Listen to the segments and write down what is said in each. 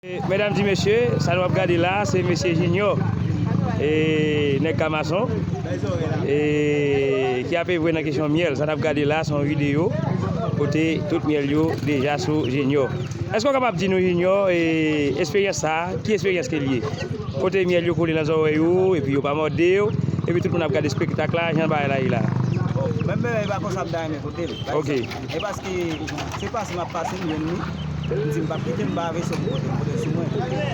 Medam di mesye sa nou ap gade la se mesye jinyò e nèg kamason e ki ap evre nan kesyon myèl sa nap gade la son video kote tout myèl yo deja sou jinyò èske ou kapab di nou jinyò e esperyans sa ki esperyans ke liye kote myèl yo kole nan zòrèy ou epi yo pa mòdew epi tout moun ap gade spektak la jan bagay la ye la bon menm bagay pa konsa m ta renmen kotel ok. E paske se pase m ap pase m jwenn li, m di m pap kite m ba veso m pote m pote sou mwen.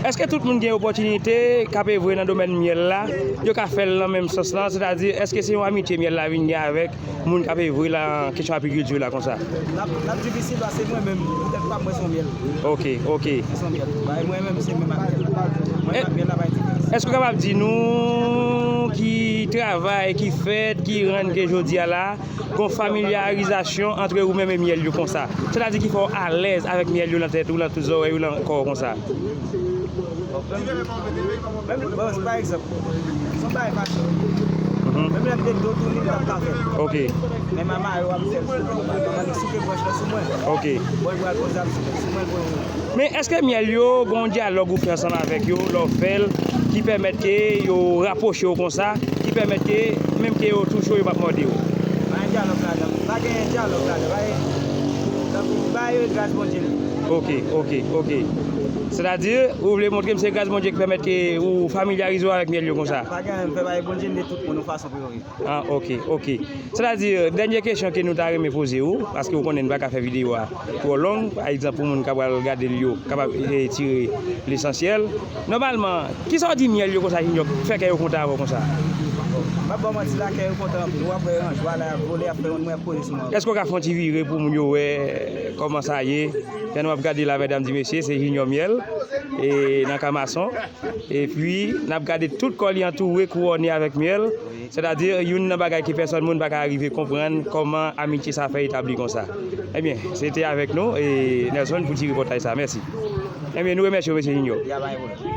Èske tout moun gen opòtinite, k ap evre nan domèn myèl la, yo ka fè l nan menm sans lan, sètadi èske se yon amitye myèl la vin gen avèk moun k ap evre lan kesyon apikilti la konsa? L ap l ap difisil paske mwen menm tèt pa m mwen s on myèl. Ok, ok. Mwen s on myèl. Bagay mwen menm se menm ak myèl la. Mwen menm ak myèl la pa gen diferans. Èske w kapab di nou ki travay ki fèt ki rann ke jodi a la gon familyarizasyon antre ou menm e myèl yo konsa. Sa ta di ki fè w alèz avèk myèl yo nan tèt ou, nan zòrèy ou, nan kò w konsa. Ok. Men eske myèl yo gen yon dyalòg ou fè ansanm avèk yo lè w fè l ki pèmèt ke yo rapwoche yo konsa, ki pèmèt ke menm ke yo tou cho yo p ap mòde w? Pa gen dyalòg ladan l. Pa gen dyalòg ladan l. Pa gen tankou bay yo e gras Bondye li ye. Ok, ok, ok. Sètadi, ou vle montre m se gras Bondye ki pèmèt ke ou familyarize w avèk myèl yo konsa? Pa gen anyen, m fè bay Bondye m de tout moun yon fason pou yo viv. Ah ok ok sètadi dènye kesyon ke nou ta renmen poze ou paske ou konnen nou pa ka fè videyo a twò long pa egzanp pou moun k ap pral gade l yo kapab tire lesansyèl nòmalman kisa w di myèl yo konsa Jinyò k fè kè yo kontan avè w konsa? Bon m ap ba w manti la kè yo kontan anpil w ap wè yon jwa la y ap vole y ap fè yon nwè poze sou mango. Èske w ka fè yon ti vire pou moun yo wè kòman sa ye pè nou ap gade la mèdam di mesye se Jinyò myèl e nan kamason. Epi, n ap gade tout kò li antoure, kouwòne avèk myèl, sètadi youn nan bagay ke pèsòn moun pa ka arive konprann kòman amitye sa fè etabli konsa. Ebyen, se te avèk nou, Nelson, pou ti repòtaj sa. Mèsi. Ebyen, nou remèsye w, Mesye Junio.